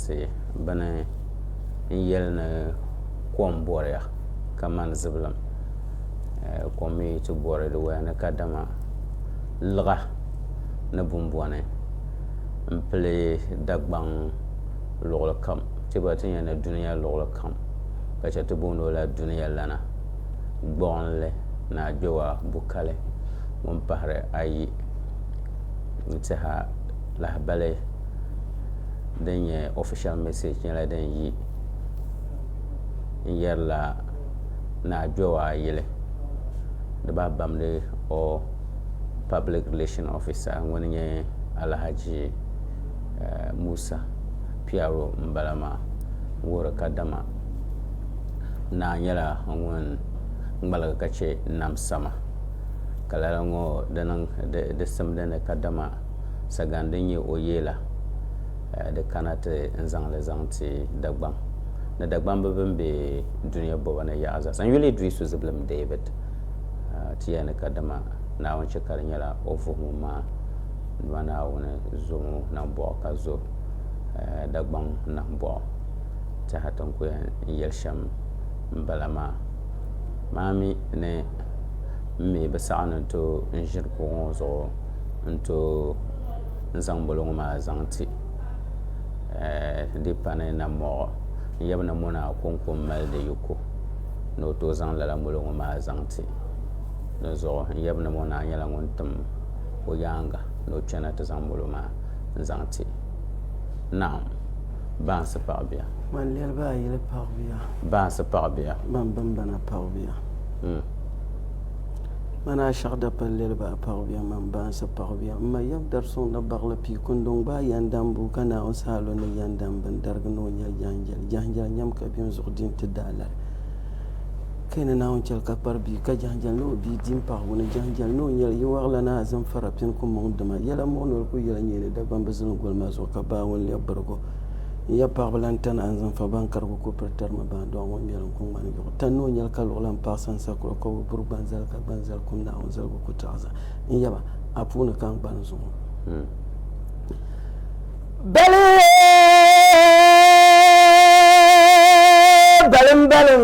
Tihi bini n yeli ni kom boriya kamani zibilim kom mi yi ti bori di waya ni kadama liɣa ni bumbɔni m pili Dagbaŋ luɣuli kam ti gba ti nya ni dunia luɣuli kam ka che ti booni o la dunia lana gbuɣinli ni agbɛwa bukali ŋun pahiri ayi n tiɛha. lahabali din nyɛ official message nyɛla din yi n yɛrila ni a kpɛ o a yili di bahi bamdi o public relation officer ŋuni n nyɛ Alahaji Musa Piyaro n bala maa n wuhiri kadama naa nyɛla ŋun ŋmaligi ka chɛ nam sama ka lala ŋɔ di simdi ni kadama sagan din nyɛ o yee la, di kana ti n zaŋ li zaŋ ti Dagbaŋ ni Dagbamb bɛn be dunia bɔba ni yaɣa zaa sa. N yuli Iddrisu zibilim David ti ya ni ka dama Naawuni chɛ ka di nyɛla o vuhimu maa dama Naawuni zomi o nambɔɣu ka zo Dagbaŋ nambɔɣu tɛha ti n ku yɛn yɛli shɛm m bala maa. Maa mi ni m mi bi saɣi ni n tooi n ʒiri kuɣu ŋɔ zuɣu. n tooi zaŋ boligu ŋo maa zaŋ ti di pani na moɣu n yaba na mona akonko n mali di yiko ni o tooi zaŋ lala moligi ŋo maa zaŋ ti di zuɣu n yaba na ŋona nyɛla ŋun tim o yaanga ni o chɛna ti zaŋ moligi maa n zaŋ ti naawuni baŋsi paɣa bia baŋsi paɣa bia Manaa shɛɣu dapal lɛliba a paɣibiɛm mini baansi paɣibiɛm. M ma yab dari suŋ ni baɣili pii kundɔŋ gbaai yɛndam bua ka Naawuni saha lu ni yɛndam bini darigi ni o nya jɛnjɛli. Jɛnjɛli nyam ka bɛ ni zuɣu di nti daa lari. Kaya ni Naawuni chɛli ka kpari bia ka jɛnjɛli ni o bia di m-paɣigu ni jɛnjɛli ni o nyɛli yi waɣila ni azimfara pini ku muŋ dima. Yɛla muɣi noli ku yɛla nyɛɛ ni Dagbamba zilingoli maa zuɣu ka baa ŋun lɛbi birigi o. N ya paɣaba lan tani anzinfa ban ka di ku ku piri tari ma baŋ dɔɣu ŋun ŋmɛri n ku ŋmani yuɣu. Tani ni o nyɛli ka luɣ lan paɣisi n sakura ka o bi buri gbanzali ka gbanzali kum Naawuni zaligu ku taɣi zaa. N yaba, a puuni ka n gbali n zuŋɔ. Bali balimbaliŋ.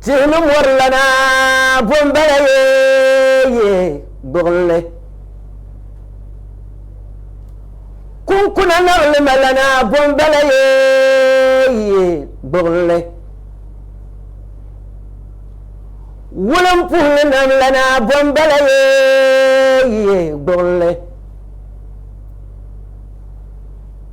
Tihi ni mɔri lana bo m-bala yeeye gbuɣinli. Kunkuna naɣilima lana bo m-bala yeeye gbuɣinli. Wulimpuhili nam lana bo m-bala yeeye gbuɣinli.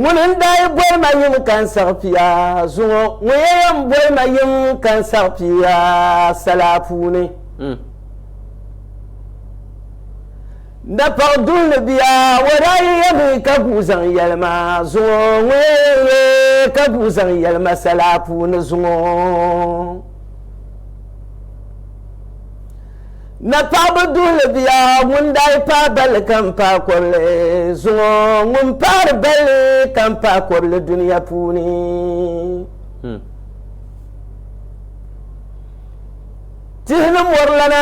Ŋuni n-daa yi boli ma yiŋ ka n saɣi pia zuŋɔ, ŋɔ ya yɛn boli ma yiŋ ka n saɣi pia sala puuni. Napaɣ duhi ni bia wa daa yi yɛmi ka guui zaŋ yɛli ma zuŋɔ, ŋɔ ya yɛn ye ka guui zaŋ yɛli ma sala puuni zuŋɔ. Napaɣiba duhili bia ŋun daa yi paai balli ka m-paai kɔbili zuŋɔ ŋun paari balli ka m-paai kɔbili dunia puuni. Tihi ni mɔrilana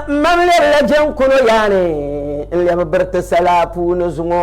m-mam lɛbila jɛnkuno yaani n-lɛbi biriti sala puuni zuŋɔ.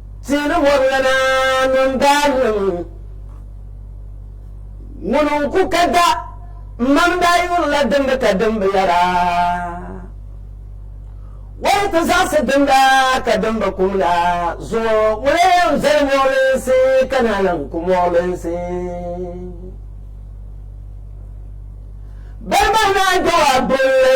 Ti ni bɔri la Naawuni daannim ŋun n-ku ka da m-mam daa yurila dimbu ka dimbu yɛra, Wala ti zaɣisi dimda ka dimba kum la zuŋɔ ŋuna yɛn zali mɔɣilinsi ka naa lan ku mɔɣilinsi? Bɛn bahi naa Jɔab dol li.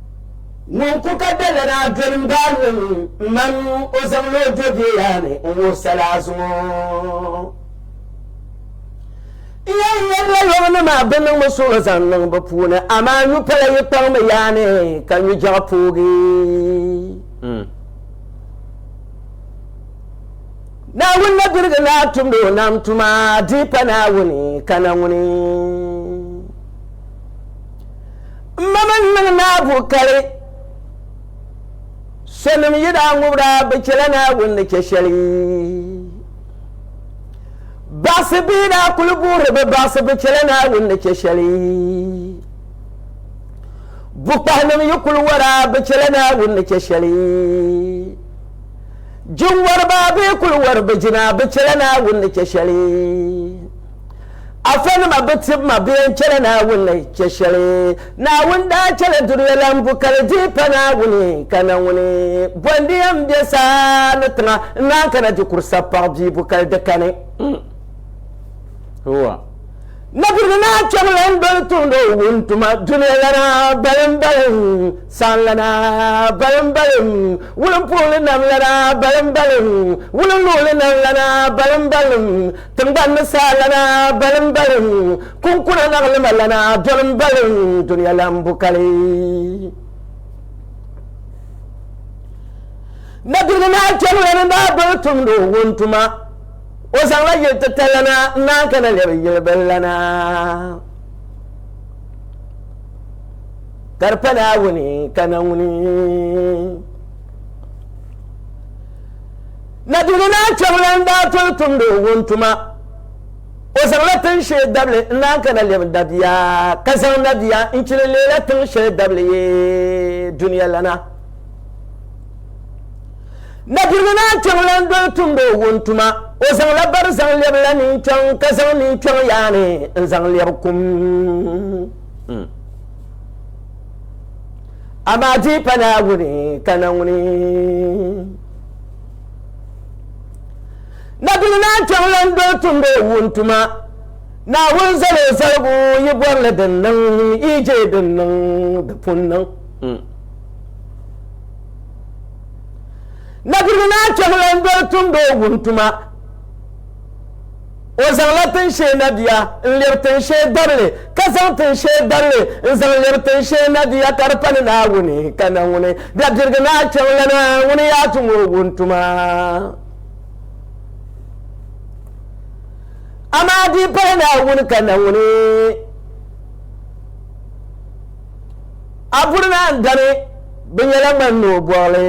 Ŋun ku ka dala naa doli n baa ŋɔ ni m ma ŋu o zaŋ la o do bee yaa ni n wuhi sala a zuŋɔ. N yɛn yɛrila yɔbu ni maa bɛ niŋmi suɣulo zaŋ niŋ bɛ puuni amaa nyu pala yi kpaŋmi yaa ni ka nyu jɛɣu poogi. Naawuni na birigi naa tumdi o nam tuma di pa Naawuni ka na ŋuni. M ma mini niŋ naa buɣ kali. Sonim yi daa ŋubir a, bɛ chɛla Naawuni ni chɛ shɛli. Baɣisi bɛ yi daa kul guhiri bɛ baɣisi, bɛ chɛla Naawuni ni chɛ shɛli. Bukpahinim yi kul wari a, bɛ chɛla Naawuni ni chɛ shɛli. Jinwariba bɛ yi kul wari bɛ jina, bɛ chɛla Naawuni ni chɛ shɛli. Afanima bi tib ma bee n-chɛla Naawuni ni chɛ shɛli. Naawuni daa chɛla dunia la m-bu ka li dihi pa Naawuni, ka na ŋuni bɔndi ya m-be saa ni tiŋa n-naan kana di kuri sapaɣu bee bu ka li di kani. Napiligu naa kpɛm lan doli tumdi o wuntuma dunia lana balimbaliŋ, saanlana balimbaliŋ, wulimpuhili nam lana balimbaliŋ, wulinluɣili nam lana balimbaliŋ, Tiŋgbani ni saa lana balimbaliŋ, kunkuna naɣilima lana dolimbaliŋ, dunia lan bu kali. Nabili naa chɛbila ni daa boli tumdi o wuntuma, o zaŋla yili titali lana n-naan kana lɛbi yili bil lana. Ka di pa Naawuni ka na ŋuni. Naduni naa Kpɛŋlan daa toli tumdi o ŋun tuma. O zaŋla tin shee dabili n-naan kana lɛbi Nabia, ka zaŋ Nabia n-chili leela tin shɛli dabili yi dunia lana. Naduni naa Kpɛŋlan doli tumdi o ŋun tuma. O zaŋla bari zaŋ lɛbila ninkpɛŋ, ka zaŋ ninkpɛŋ yaani n-zaŋ lɛbi kum. Amaa di pa Naawuni, ka na ŋuni. Nabil naa kpɛŋ lan do tumdi o wuntuma. Naawuni zal o zaligu yi bɔri li din niŋ, yi je din niŋ di pun niŋ. Hmm. Nabil naa kpɛŋ lan do tumdi o wuntuma. O zaŋla tinshee nadia n-lɛbi tinshee dabili, ka zaŋ tinshee dabili n-zaŋ lɛbi tinshee nadia ka di pani Naawuni, ka na ŋuni dabirigi ni a chaŋ lana, ŋuni yaa tum o wuntuma. Amaa di pala Naawuni ka na ŋuni a buri ni a ni dani, bɛ nyɛla ŋmani ni o bɔɣili.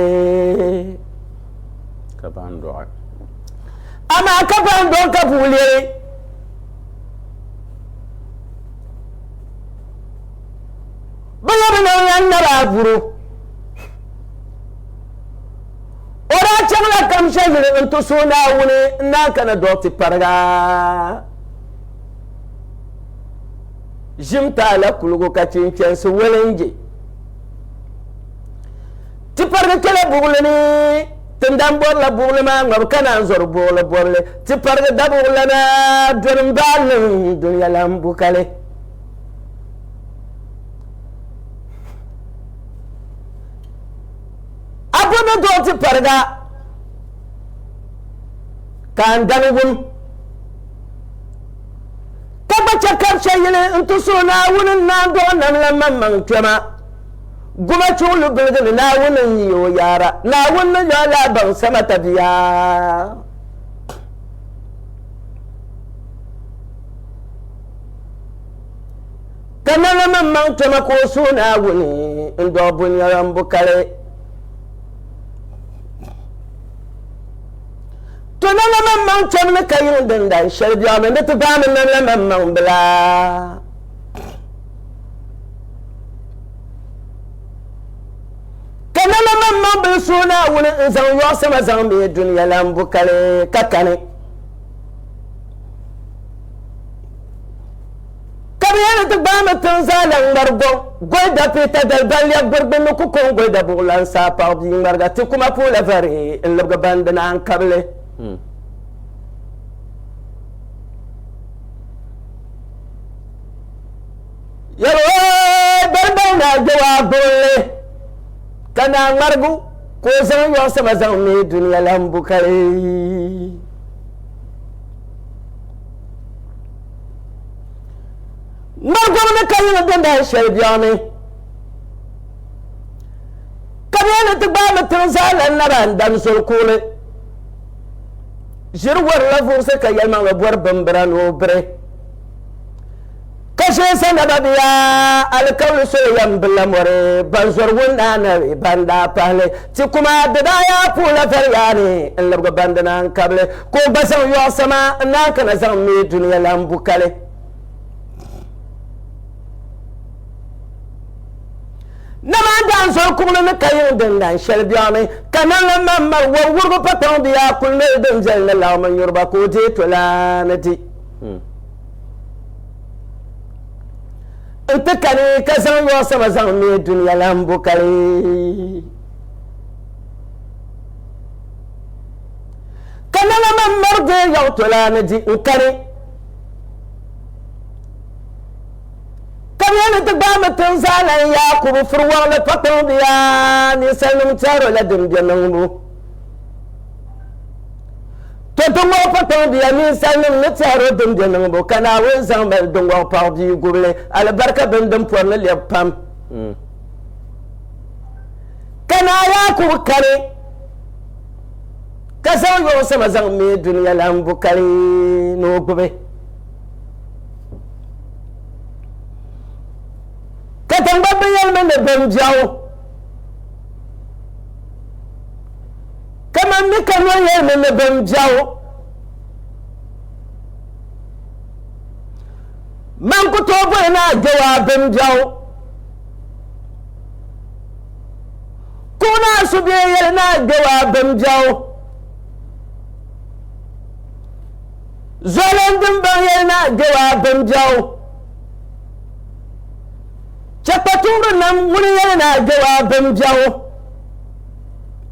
kabaandɔɣi. Amaa kabaandɔɣi ka bɛ lɛbi. Bɛ lɛbi niŋla naba avuru. O daa chaŋla Kamsha yili n-ti suhi Naawuni n-naan kana dɔɣiti pariga Ʒim Taala kuligu ka chɛ n-chansi Wɛlinje. Ti parigi kpɛla buɣili ni, ti ni daa bɔrila buɣili maa ŋmabu ka naan zɔri buɣili bɔbili. Ti parigi dabuɣilana doli m-baai liŋ dunia lan bu kali. A bo ni dɔɣi ti pariga ka n dani wum, ka gba chɛ kabchɛ yili nti suhi Naawuni n-naan dɔɣi nam la maŋmaŋ kpɛma. Gumachuɣu lu biligi ni Naawuni n-yi o yaara. Naawuni ni yɔi la baŋsama tabiya. Ka nanima m-maŋ toma ka o suhi Naawuni n-dɔɣi bunyɔyɔmbu kali. To nanima m-maŋ tom ni ka yiŋ din dan shɛli biɛɣu ni ni ti baami nanima m-maŋ bila. ka na la man maŋ bili suhi naawuni n zaŋ yɔɣu sama zaŋ mi duniya lan bu kali ka kani ka bi yɛli ti gbaami tiŋ zaa lan ŋmari gɔŋ gɔyda piita daliballiya gbirigbinni ku kɔŋ gɔyda buɣulan saa paɣi bia ŋmariga ti kuma puula vari n libigi bandi naan kabili hmm. Yɛli o dalibaŋ ni a je o a buɣili, ka naa ŋmarigu ka o zaŋ yɔɣu sama zaŋ mi dunia lan bu kali. Ŋmarigom ni ka yiŋa din daa shɛli biɛɣu ni. Ka bee ni ti gbaai mi tiŋ zaa lan naba n-dan zoli kuɣili. Ʒiri warila vuɣisi ka yɛlimaŋli bɔri bimbira ni o biri. Ka shee sa naba bɛ yaa alikauli soli yɛm bi la mɔri ban zɔri ŋun daa nabi ban daa pahili ti kuma di daa yaa puhila vari yaa ni n libigi ban di naan kabili ka o gba zaŋ yɔɣu sama n naan kana zaŋ mi dunia lan bu kali namaan daan zɔri kuɣili ni ka yiŋ din dan shɛli biɛɣuni ka nanla man mali wɔbi wurigu pa kpaŋ bɛ yaa kuli noli din viɛli ni laɣimi nyuriba ka o deei tolaani di n ti kani ka zaŋ yɔɔ sama zaŋ me duniya lan bo kali ka nana man mari gee yaɣu tola ni di n kani ka bɛ ni ti gbaai mi tin zaa lan Yaakubu furi wɔɣili pa kpaŋ biya ninsalinim tɛro la din bɛ niŋbu To ti ŋɔɣi pakpaŋbiya ninsalinim ni tɛhir o din be niŋbu, ka Naawuni zaŋ mali di ŋɔɣi paɣi bia gubili alibarika bini din pɔri ni lɛbi pam. Ka Naa Yaakubu kani, ka zaŋ yɔbu sama zaŋ me dunia lan bukali ni o gbubi. Ka taŋgbani binyɛlimi ni bimbɛɣu. Kaman mi ka Noa yɛli mi ni bɛn biɛɣu, Man ku tooi boli ni a gbiɛgu a bimbiɛɣu. Kuɣ ni a subihi yɛli ni a gbiɛgu a bimbiɛɣu. Zuɣulan dimbaŋ yɛli ni a gbiɛgu a bimbiɛɣu. Chɛ kpatuɣiri nam ŋuni yɛli ni a gbiɛgu a bimbiɛɣu.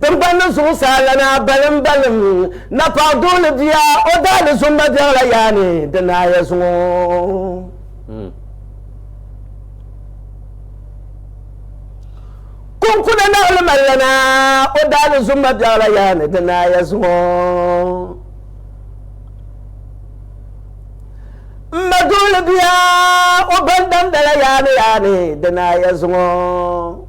Tiŋgbani zuɣusaa lana balimbaliŋ, Napɔɣu duɣili bia, o daali zumba biɛɣila yaa ni di naaya zuŋɔ. Kunkuna naɣili mali lana, o daali zumba biɛɣila yaa ni di naaya zuŋɔ. M ma duɣili bia, o bandamdala yaa ni yaa ni di naaya zuŋɔ.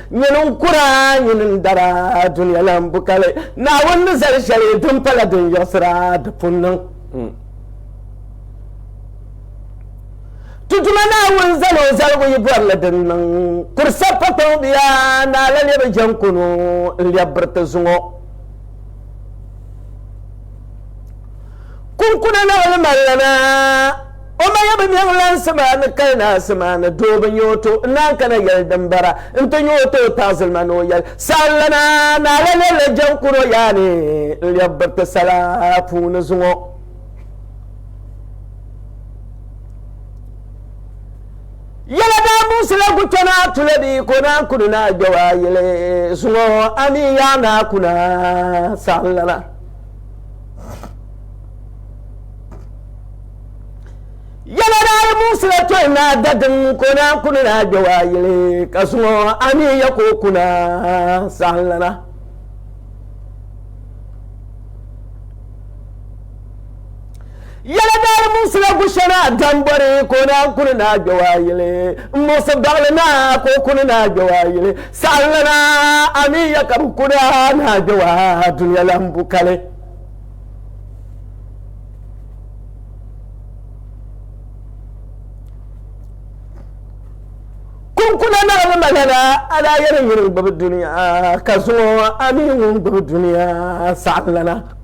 Nyini n-kura, nyini n-dara, dunia la m-bu ka li. Naawuni ni zali shɛli din pala din yiɣisira di pun niŋ. Ti Duuma Naawuni zal o zaligu yi bɔri li din niŋ. Kuri sa pa kpaŋ bia, naa la lebi jɛŋ kunu n-lɛbi biriti zuŋɔ. Kunkuna laɣili ma lana, o maya bi mɛŋ lansi maa ni kali naasi maa ni doo bi nya o to n-naan kana yɛli din bara nti nya o to o taɣizilima ni o yɛli saɣim lana, naa la lɛbila jɛm kuri o yaa ni n-lɛbi biriti sala puuni zuŋɔ. Yɛla daa muɣisi la Guto Naa Tula bee ka o naan kuni Naa Gbɛwaa yɛli zuŋɔ, Amii yaa naa kuna saɣim lana. Yɛla daa yi muɣisila tɔyi naa dadiŋ ka o naan kuni naa gbɛ waa yili ka zaŋ o anii ya ka o kuna saɣimlana Yɛla daa muɣisila Gushɛna Dambɔri ka o naan kuni ni a gbɛwa yili. N muɣisi baɣili na ka o kuni ni a gbɛwa yili. Saɣinli na, a mi ya ka bɛ kuni a ni a gbɛwa dunia lahibu kali. Kunkuna naɣili ma lana, a daa yɛli nyini n-gbibi dunia, ka zuŋɔ a mi ŋun gbibi dunia saɣinli na.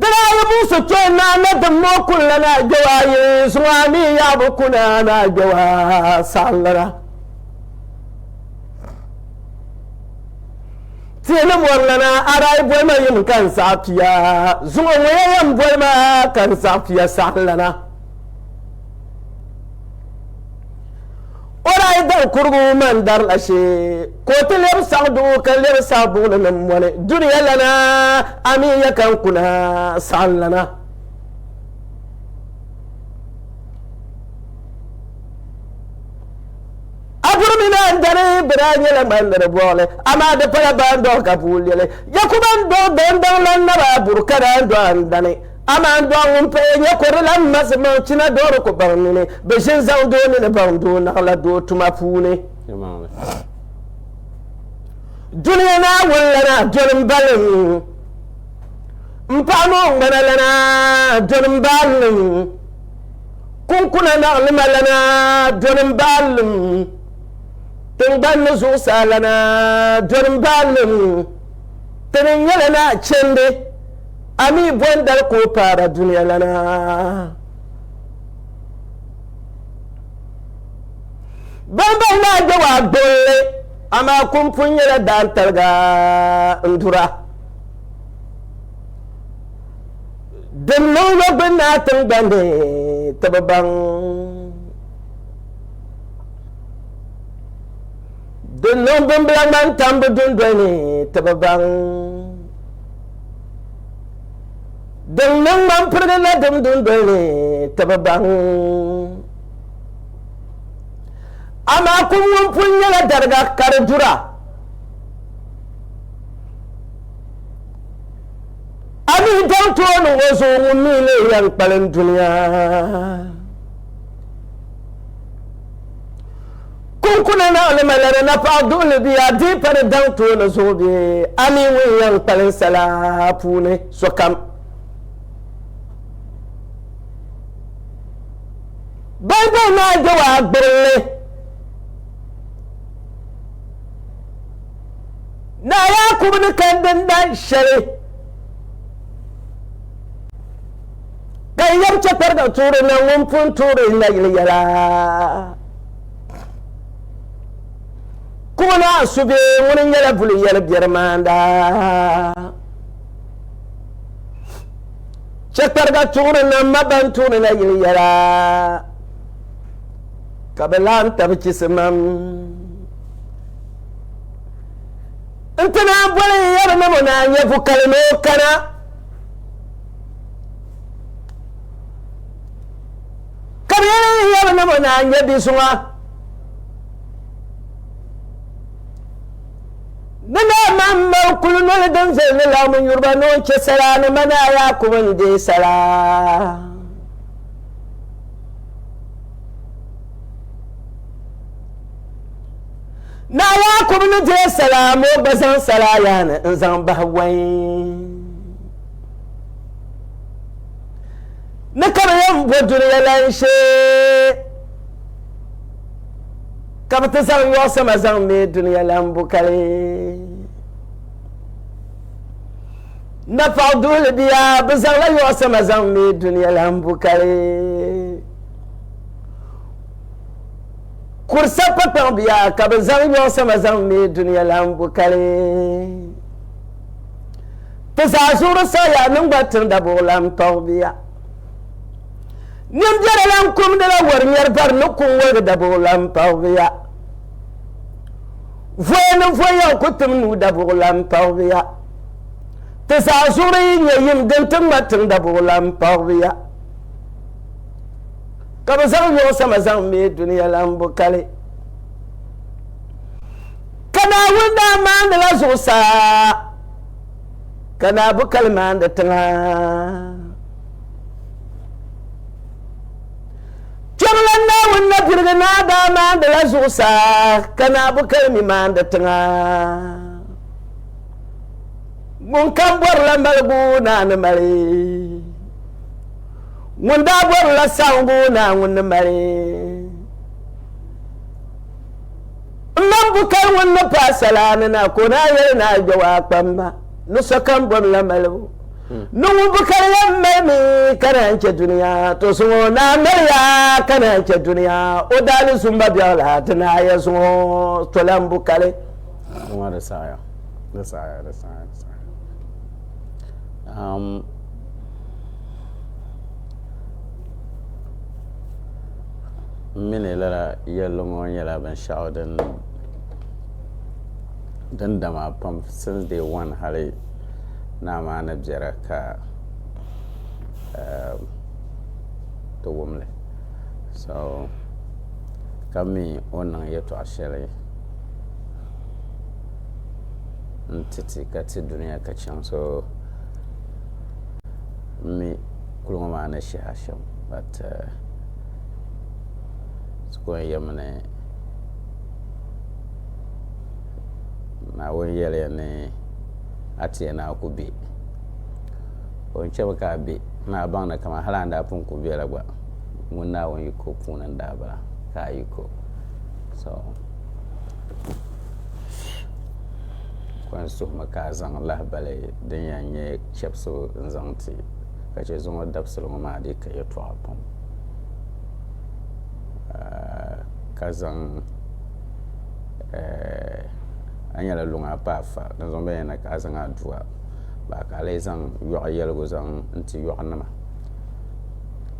Di daa yi buɣi so kpee naa na dimma o kuni la naa gbewaa yi zuŋɔ a mi yaa bi ku naa naa gbewaa saɣinlana. Tihi ni mɔri lana a daa yi boli ma yim ka n saɣi pia zuŋɔ ŋɔ ya yɛn boli ma ka n saɣi pia saɣinlana. O daa dari kurigu mani dari la shee ka o ti lɛbi saɣi duɣu ka lɛbi saɣi buɣili ni m-boli dunia lana amin ya ka n kuna saɣim lana. A puri mi ni a ni dari bɛ daa nyɛla ŋmandiri buɣili amaa di pala baa n-dɔɣi ka bua leli. Yakuba n-dɔɣi dɔndaŋ la naba a buri ka daa n-dɔɣi a ni dani. Amaa n dɔɣi ŋun paya nya kɔdi la m ma zimaŋ china dɔɣiri ku baŋ nini bɛ ʒin zaŋ doo nini baŋ doo naɣ la doo tuma puuni. Dunia Naawuni lana doli m balim, m paɣa ni o ŋmana lana doli m baalim, kunkuna naɣilima lana doli m baalim, tiŋgbani ni zuɣusaa lana doli m baalim, ti ni nyɛla naɣichindi. A mi bɔn dali ka o paara dunia lana? Ban bahi maa gba waa gbilli, amaa kum pun nyɛla daantaliga n-dura. Din niŋ lo gbinnaa tiŋgbani ni ti bi baŋ. Di niŋ bimbila ŋmani tambu dundoli ni ti bi baŋ. Din niŋ ŋmani pirigi nadim dundoli ni ti bi baŋ. Amaa kum ŋun pun nyɛla dariga ka di dura. A mi daŋ ti o niŋ o zuɣu ŋun mi leei yɛn kpalim dunia. Kunkuna ni alimaliri napaɣ duhili bɛ yaa dii pa di daŋ tooni zuɣu bee? A mi ŋun yɛn kpalim sala puuni sokam. Baibul maa be o agbirili Naa Yaakubu ni kandi n dahin shɛli ka n yɛm chɛpiriga tuuri na ŋun pun tuuri n nayili yɛla. Kuma maa su bɛ ŋuni nyɛla buli yɛli biɛri maanda chɛkpariga tuɣuri na ma ban tuɣuri na yili yɛla ka bi laɣam tabi chisimam n ti naa boli yɛri ni mo naa nyɛ vukali ni o kana Ka bɛ yɛli n hiɛbu ni bɛ naan nya bi zuŋɔ. Bɛ daa mahim ma o kuli noli din viɛli ni laɣim n yuri ba ni o chɛ sala ni ma naa Yaakubu ni deei sala. Naa Yaakubu ni deei sala ma o gba zaŋ sala yaa ni n zaŋ bahi wai. ni ka bɛ yɛn bo dunia lan shee, ka bɛ ti zaŋ yɔɣisima zaŋ me dunia lan bu kali. Napaɣ duhili bia, bɛ zaŋla yɔɣisima zaŋ me dunia lan bu kali. Kurisa pakpaŋ bia, ka bɛ zaŋ yɔɣisima zaŋ me dunia lan bu kali. Ti zaa zuɣuri saɣiya ni n-gba tiri dabuɣilan tɔɣibiya. Nimbera lan kumdila wari ŋmɛri bari ni ku ŋ-woligi dabuɣilan tɔɣibiya. Voya ni voyiɣ ku tim nuu dabuɣilan tɔɣibiya. Ti zaa zuɣuri yi nyɛ yim din ti ŋma tiŋ dabuɣilan tɔɣibiya. Ka bɛ zaŋ nyɔɣu sama zaŋ me dunia lan bo kali. Ka Naawuni daa maandila zuɣusaa. ka naa bu kali maandi tiŋa kpɛmla naawuni na birigi naa daa maandila zuɣusaa ka naa bu kali mi maandi tiŋa ŋun kam bɔrila maligu naa ni mali ŋun daa bɔrila saɣingu naa ŋun ni mali M mani Bukar ŋun ni paai salaa ni na ka o naa yɛli ni a gbiɛgu a kpamba ni sokam bom la malibu ni ŋun Bukar yɛn mali mi ka naan chɛ dunia to zuŋ o naa mali ya ka naan chɛ dunia o daa ni zumba biɛɣu la ti naai ya zuŋ o to la m-Bukari Dama di saɣiya di saɣiya di saɣiya di saɣiya um, m mi ni lala yɛlli ŋɔ nyɛla binshɛɣu din dama pam since day one hali naa maa ni biɛra ka ti wum li so ka mi o ni niŋ yɛltɔɣa shɛli n-ti ti ka ti dunia ka chaŋ so m mi kuliga maa ni shɛhi a shɛm but ti ko n yɛmi ni Naawuni yɛliya ni a ti yɛn ni a ku bɛ o ni chɛmi ka a bɛ ni a baŋ ni kamani hali a ni daa pun ku bɛ la gba ŋuni Naawuni yiko puuni n daa bala ka a yiko so ko n suhimi ka a zaŋ lahibali din yɛn nyɛ chɛbisigu n zaŋ ti ka chɛ zuŋɔ dabisili ŋɔ maa dii ka yɛltɔɣa pam ka zaŋ a ni yɛli luŋa pa a fa dinzuɣu n bɛn yɛli ni ka a zaŋ aduwa bahi ka a lee zaŋ yɔɣu yɛligu zaŋ ti yɔɣu nima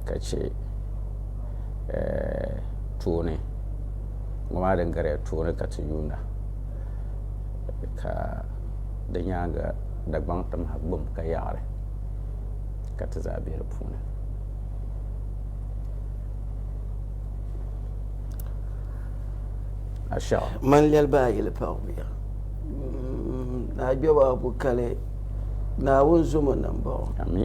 ka chɛ tooni ŋɔ maa din gariya tooni ka ti yuunda ka di nyaanga Dagbaŋ tim ha gbum ka yaɣiri ka ti zaa be di puuni. Ashaɣu. Man lɛli ba a yili paɣibuya. Naa Jɔba Abu Kali, Naawuni zom o ni m-baɣ o. Ami.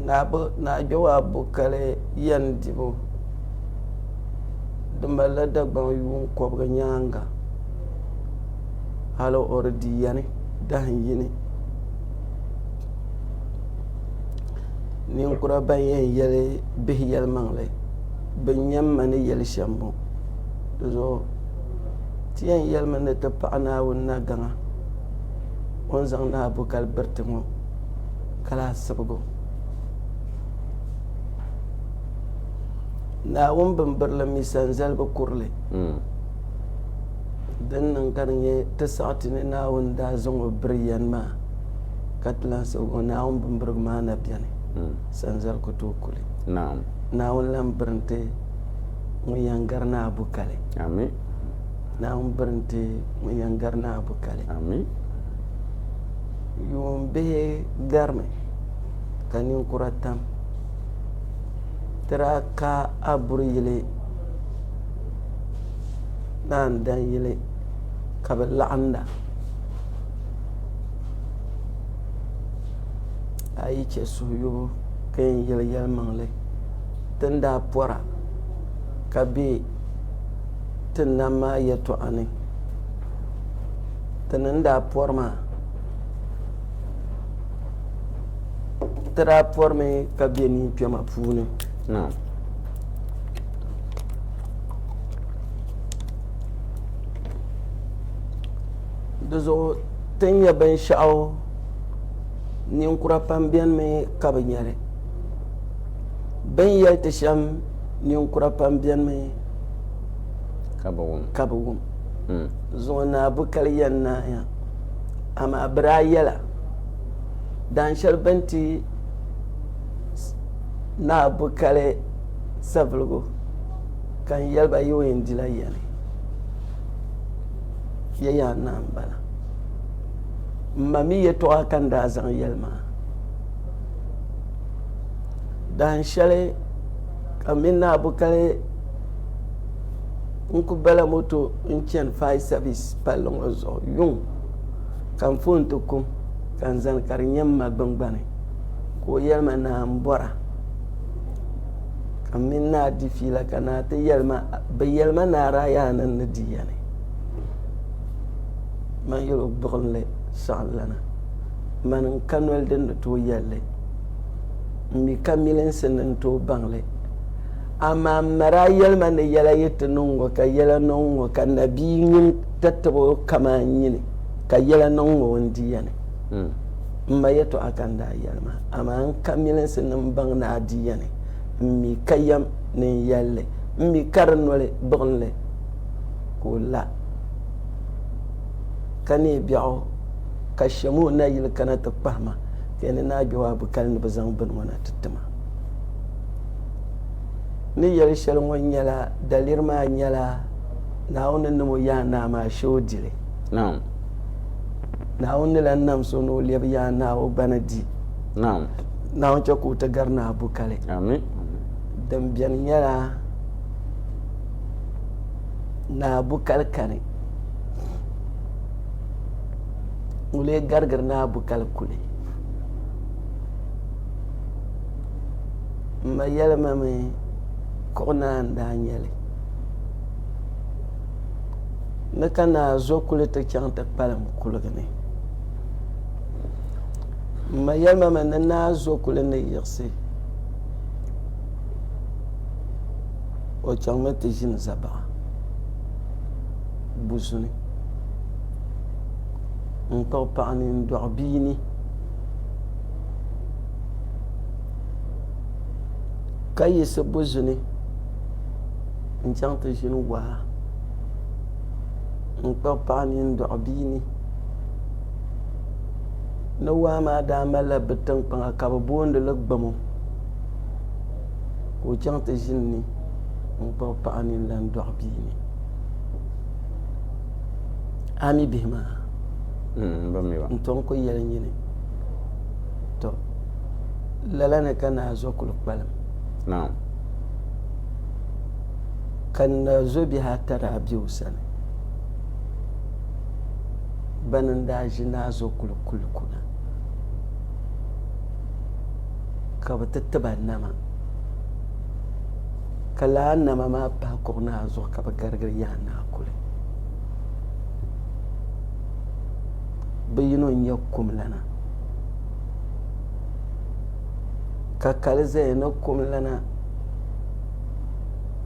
Naa Jɔba Abu Kali yɛn dibu di malila Dagbaŋ yuun kɔbiga nyaaŋa. hal o di di yɛni dahin yini. Ninkura ban yɛn yɛli bihi yɛlimaŋli bin yɛn ma ni yɛli shɛm bɔ di zuɣu ti yɛn yɛlimi ni ti paɣi Naawuni na gaŋa o ni zaŋ na bukali biriti ŋɔ ka lahi sibigo Naawuni bimbirili mi sanzalibi kurili Din niŋ ka di nyɛ ti saɣi ti ni Naawuni daa zaŋ o biri yɛn maa, ka ti lan sabi o Naawuni bimbirigu maa na beni, sanzali ku tooi ku li. Naawuni lan biri n-ti ŋun yɛn gari ni a bu kali. Naawuni biri n-ti ŋun yɛn gari ni a bu kali. Yuun bihi garimi, ka ninkura tam. Ti daa ka a buri yili. naan dan yili ka bɛ laɣimda. A yi chɛ suhuyubu ka yɛn yɛli yɛlimaŋli, ti ni daa pɔra ka be ti nam maa yɛtɔɣa ni, ti ni daa pɔri maa, ti daa pɔrimi ka be ninkpɛma puuni. di zuɣu ti ni nyɛ binshaɣu ninkura pam biɛni mi ka bi nyɛli bin yɛli ti shɛm ninkura pam biɛni mi ka bi wum ka bi wum hmm. zuɣu naa bi kali yɛn naaya amaa bi daa yɛla dan shɛli bin ti Naa bi kali saviligu ka n yɛli ba yi o yɛn dila ya ni ya yaa naa m-bala. M ma mi yɛtɔɣa ka n daa zaŋ yɛli ma dahin shɛli ka m mini Naa bi kali n-kul bala moto n-chani Fai Sɛvis palli ŋɔ zuɣu yuŋ ka n foon ti kum ka n zani ka di nyɛ m ma gbiŋgbani. ka o yɛli ma naa m-bɔra ka mini naa di fiila ka naa ti yɛli ma bɛ yɛli ma naa daa yaa ni ni di ya ni man yɛli o gbuɣinli saɣim lana man n-ka noli din ni tooi yɛli li m-mi ka milinsi ni n-tooi baŋ li amaa m ma daa yɛli ma ni yɛla yi ti niŋ ŋɔ ka yɛla niŋ ŋɔ ka nabia nyin tatabo kaman nyini ka yɛla niŋ ŋɔ o ni di ya ni. M-ma yɛtɔɣa ka n daa yɛli ma, amaa n ka milinsi ni m baŋ ni a di yɛni, m mi ka yɛm ni n yɛli li. M mi ka di noli buɣim li ka o la, ka neei biɛɣu, ka shem o nayili kana ti kpahi ma, ka yɛn ni naa gbɛbu a bi kali ni bɛ zaŋ bini ŋɔ na ti ti ma. N ni yɛli shɛli ŋɔ nyɛla, daliri maa nyɛla, Naawuni ni niŋ o yaanaa maa, a shee o di li. Naawuni ni lan nam so ni o lɛbi Yaa Naa o gbana di. Naawuni chɛ ka o ti gari Naa Bukali. Din beni nyɛla Naa Bukali kani. N lee garigiri Naa Bukali kuli. M ma yɛlima mi kuɣu naa n-daa nyɛli. ni ka naa zo kuli ti chaŋ ti kpalim kuligi ni. M ma yɛli ma mi ni naa zo kuli ni yiɣisi o chaŋmi ti ʒini zabaɣa buzuni n-kpuɣi paɣa ni n-dɔɣi bia ni ka yiɣisi buzuni. n chaŋ ti ʒini waa n kpuɣi paɣa mini dɔɣi bia ni ni waa maa daa malila bɛ tiŋkpaŋa ka bɛ boondi li Gamo ka o chaŋ ti ʒini ni n kpuɣi paɣa mini lan dɔɣi bia ni a mi bihi maa mm, n tom ku yɛli nyini to lala ni ka naazɔ kuli kpalim ka n na zo bihi ata daa be o sani bana n-daa ʒi naa zuɣu kuli kuli kuna ka bɛ ti ti ba nama ka laa nama maa pahi kuɣ naa zuɣu ka bɛ garigiri yaa naa kuli bɛ yino n-nyɛ Kumlana ka kali zaya ni kum lana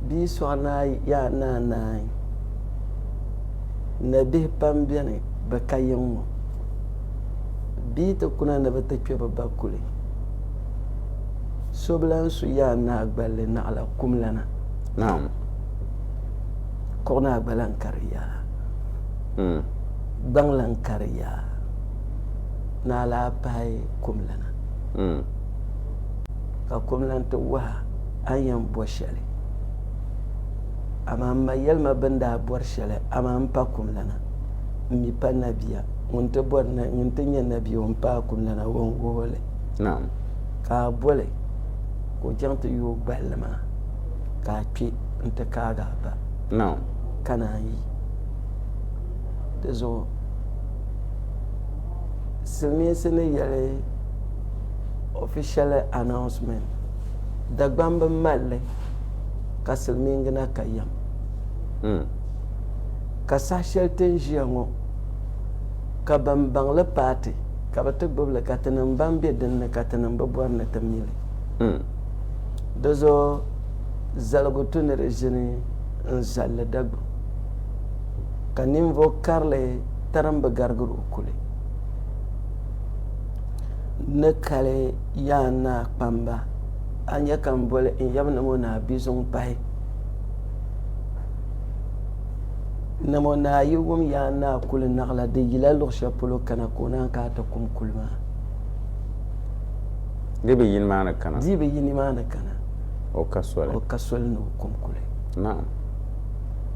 bia sɔɣi ni a yaa ni a naai nabihi pam beni bɛ ka yiŋ ŋɔ bia ti kuna ni bɛ ti kpe bɛ ba kuli so bi lan su yaa ni a gballi naɣila kum lana Naam. kuɣu ni a gba lan kari yaa gbaŋ lan kari yaa ni a lahi pahi kum lana. mm. Ka kum lan ti wahi a ni yɛn bo shɛli. Amaa m ma yɛli ma bɛ ni daa bɔri shɛli, amaa m pa kum lana. M mi pa nabia. Ŋun ti bɔri na, ŋun ti nyɛ nabia o ni paai kum lana o ni wuhi o li. Naam. Ka a bo li ka o chaŋ ti yooi gballi maa ka a kpe n-ti kaagi a ba. Naam. Ka naan yi di zuɣu. Silimiinsi ni yɛli official announcement Dagbani bi mali li ka silimiingina ka yɛm hmm. ka saha shɛli ti ni ʒiya ŋɔ ka ban baŋ li paati ka bi ti gbubi li ka tinim ban be din ni ka tinim bi bɔri ni ti mi li hmm. di zuɣu zaligu tu ni di ʒini n zalli Dagbani ka ninvuɣ karili tarim bi garigir o kuli ni kali yaa naa kpamba a nya ka n boli n yab ni mo naa bi zuŋ pahi ni mo naa yi wum yaa naa kuli naɣila di yila luɣ shɛli polo kana ka o naan ka a ti kum kuli maa di bi yi nimaani kana di bi yi nimaani kana o ka soli o ka soli ni o kum kuli naam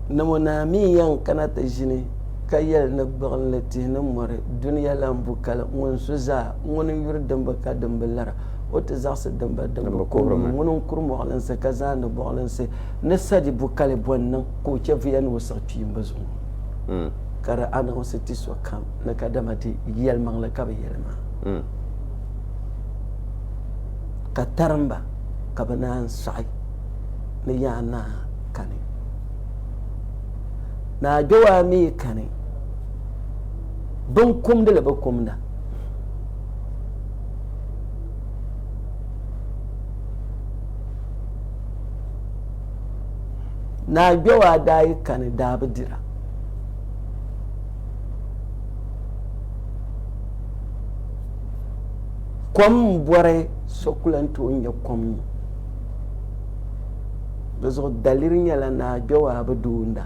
ni mo naa mi yɛn kana ti ʒini ka yɛli ni gbuɣinli tihi ni mɔri dunia lan bu kali ŋun su zaa, ŋun n-yuri dimba ka dimba lara, o ti zaɣisi dimba dimbu kuhirimi, ŋun n-kuri mɔɣilinsi ka zaandi bɔɣilinsi ni sadi bu kali bɔ n-niŋ ka o chɛvuya ni o siɣi kpiimba zuŋɔ? Ka di aniɣisi ti sokam ni kadama di yɛlimaŋli ka bɛ yɛli maa, ka tarimba ka bɛ naan sɔɣi ni Yaa Naa kani. Naa Jɔwaa mi kani binkumdili bi kumda. Naa Jɔwaa daa yi kani daa bi dira. Kom m-bɔri so kula nti o nya kom nyu. Di zuɣu daliri nyɛla Naa Jɔwaabu duunda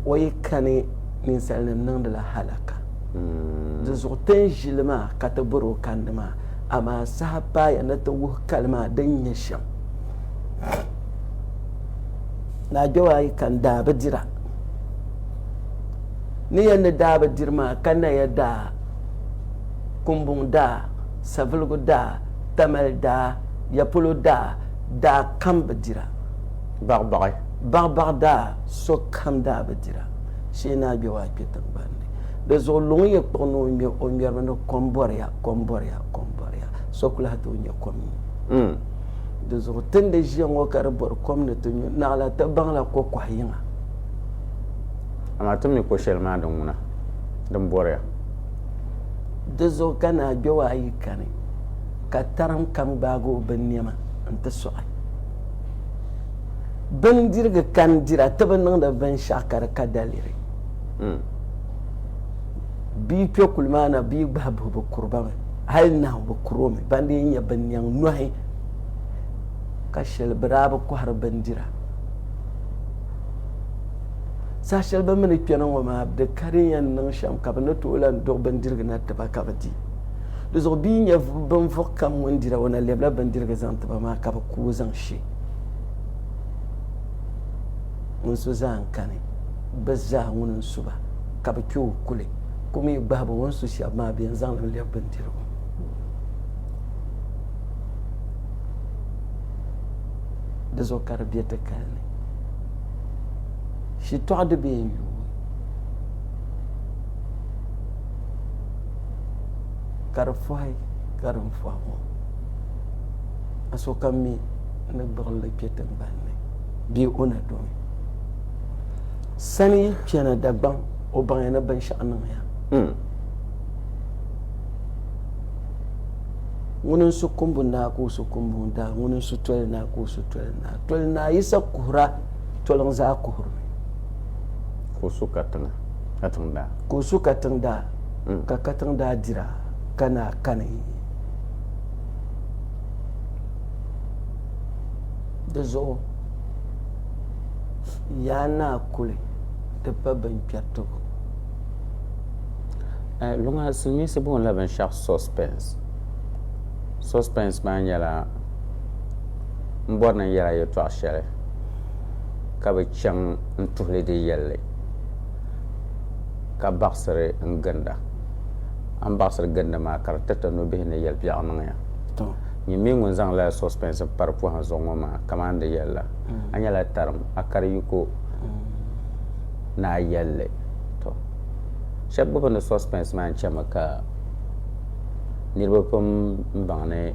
o yi kani ninsalinim niŋdila halaka. Hmm. Di zuɣu tin ʒili maa ka ti bɔri o kandi maa, amaa saha paaya ni ti wuhi kali maa din nyɛ shɛm. Naa Jɔwaa yi kani daa bi dira. Ni yɛn ni daa bi diri maa ka naya daa, kumbuŋ daa, Saviligu daa, Tamale daa, Yapolo daa daa kam bi dira. Baɣibaɣi. Baɣibaɣi daa so kam daa bi dira. Shee naa gbɛbu a kpe tiŋgbani ni. Di zuɣu luŋ ya kpuɣi ni o ŋme o ŋmɛrimi ni kom bɔriya, kom bɔriya, kom bɔriya. So ku lahi tooi nya kom nyu. Di zuɣu ti ni di ʒiya ŋɔ ka di bɔri kom ni ti nyu, naɣila ti baŋla ko kɔha yiŋa. Amaa ti mi ko shɛli maa din ŋuna din bɔriya. Di zuɣu ka naagbewa ayi kani, ka tarim kam gbaagi o binnɛma nti sɔɣi. Bindirigu kani dira ti bi niŋdi binshɛɣu ka di ka daliri. Bɛ yi kpe kuli maa na bɛ yi gbahi buhi bɛ kuri ba mi, hali nahu bɛ kuri o mi, ban dii nya binnɛŋ nɔhi ka shɛli bɛ daa bi kɔhiri bindira. Saha shɛli bɛ mi ni kpɛna ŋɔ maa, bɛ di ka din yɛn niŋ shɛm ka bɛ ni tooi lan duɣi bindirigu na ti ba ka bɛ di. Di zuɣu bɛ yi nya binvuɣ kam ŋun dira, o na lɛbila bindirigu zaŋ ti ba maa ka bɛ ku o zaŋ she. Ŋun su zaa n-kani bɛ zaa ŋun n-su ba, ka bɛ kpe o kuli, ku mi gbahi ba o ni su shɛb maa bɛ yɛn zaŋ li lɛbi bindirigu. Di zuɣu ka di be ti kali ni. shitɔɣu di bee n yuui ka di fɔhi ka din fɔhi ŋɔ a sokam mi ni gbuɣinli kpe tiŋgbani bee o na domi sani chana Dagbaŋ o baŋya ni binshɛɣu niŋya hmm. ŋuni n-su kumbu naa ka o su kumbu daa ŋuni n-su toli naa ka o su toli naa Toli Naa Yisa kuhir a, toli n zaa kuhir mi. Ka o su katiŋa, katiŋ daa. Ka o su katiŋ daa, ka katiŋ daa dir a, ka Naa kani di zuɣu. Yaa Naa kuli di pa binkpɛritibu. Luŋa silimiinsi boonila binshɛɣu suspense. Suspense maa nyɛla. n bɔri ni n yɛla yɛtɔɣ shɛli, ka bi chaŋ n-tuhi li di yɛlli, ka baɣisiri n ginda. A ni baɣisiri ginda maa, ka di tiriti nɔbihi ni yɛli biɛɣu niŋ ya. Nyin mi ŋun zaŋ lala sɔspɛns m-pari pɔhim zuɣu ŋɔ maa, kaman n di yɛli la, a nyɛla tarim, a kari yiko ni a yɛlli. Shɛba gbubi ni sɔspɛns maa n-chami ka. Niriba pam n baŋ ni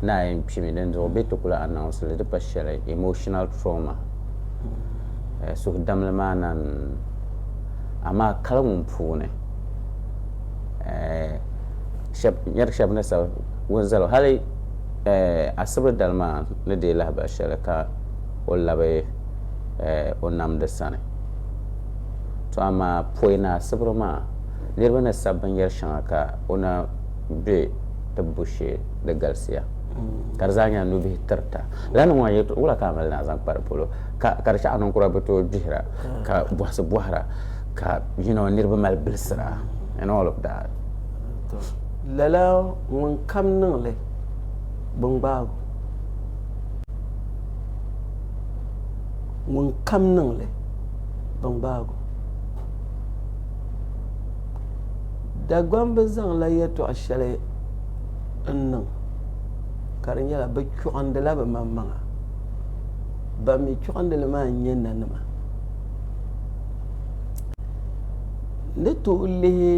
naai n kpimi dinzuɣu bɛ ti ku lahi announce li di pa shɛli emotional trauma suhudamli maa na n amaa kali ŋun puuni nyari shɛba ni sabi ŋun zali hali asibri dali maa ni deei lahabali shɛli ka o labi o namdi sani to amaa pɔi ni asibri maa. Niriba ni sabi binyɛr shɛŋa ka o na be tibbu shee di galisiya, ka di zaa nyɛla nubihi tirita. Lala niŋ ŋɔ ni yɛltɔɣ wula ka a mali ni a zaŋ kpa di polo, ka ka di chɛ a ninkura bi tooi gbihira ka bɔhisi bɔhira ka you know niriba mali bilisira and all of that? Tɔ, lala ŋunkam niŋ li bingbaagu. Ŋunkam niŋ li bingbaagu. Dagbaŋ bi zaŋla yɛltɔɣa shɛli n niŋ ka di nyɛla bi chuɣindila bi maŋmaŋa ban mi chuɣindili maa n nyɛ nanima ni tooi lihi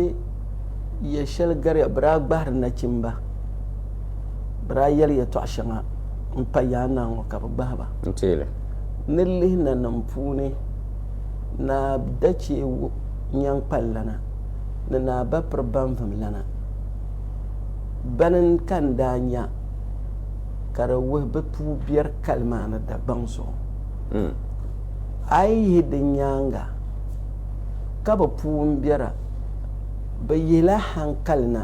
yɛ shɛli gariya bi daa gbahiri nachimba bi daa yɛli yɛltɔɣa shɛŋa n pa yaanaa ŋɔ ka bi gbahi ba ni lihi nanim puuni Naa Dachee wu nyaŋ kpallana ni Naa Bapiri Banvim lana bani ka n daa nya ka di wuhi bɛ puu biɛri kali maa ni Dagbaŋ zuɣu. A yi yihi di nyaaŋa ka bɛ puu m-biɛra, bɛ yihila haŋkali na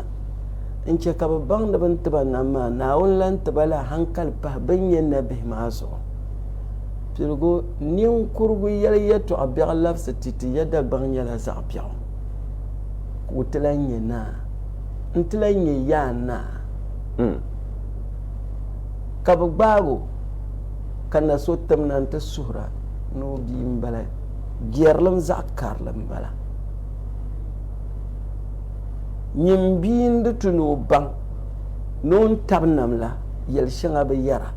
n-chɛ ka bɛ baŋ ni bɛ ni ti ba nam maa, Naawuni lan ti ba la haŋkali pahi bɛ ni nyɛ nabihi maa zuɣu. Piligu, Ninkurigu yɛli yɛtɔɣa biɛɣu labisi ti ti ya Dagbaŋ nyɛla zaɣ biɛɣu ka o ti lahi nyɛ naa. N ti lahi nyɛ yaa naa. Ka bɛ gbaag o ka na so tim na nti suhir a ni o bia m-bala. Biɛrilim zaɣ karili m-bala. Nyini bia n-di tu ni o baŋ ni o ni tabi nam la, yɛl shɛŋa bi yɛra.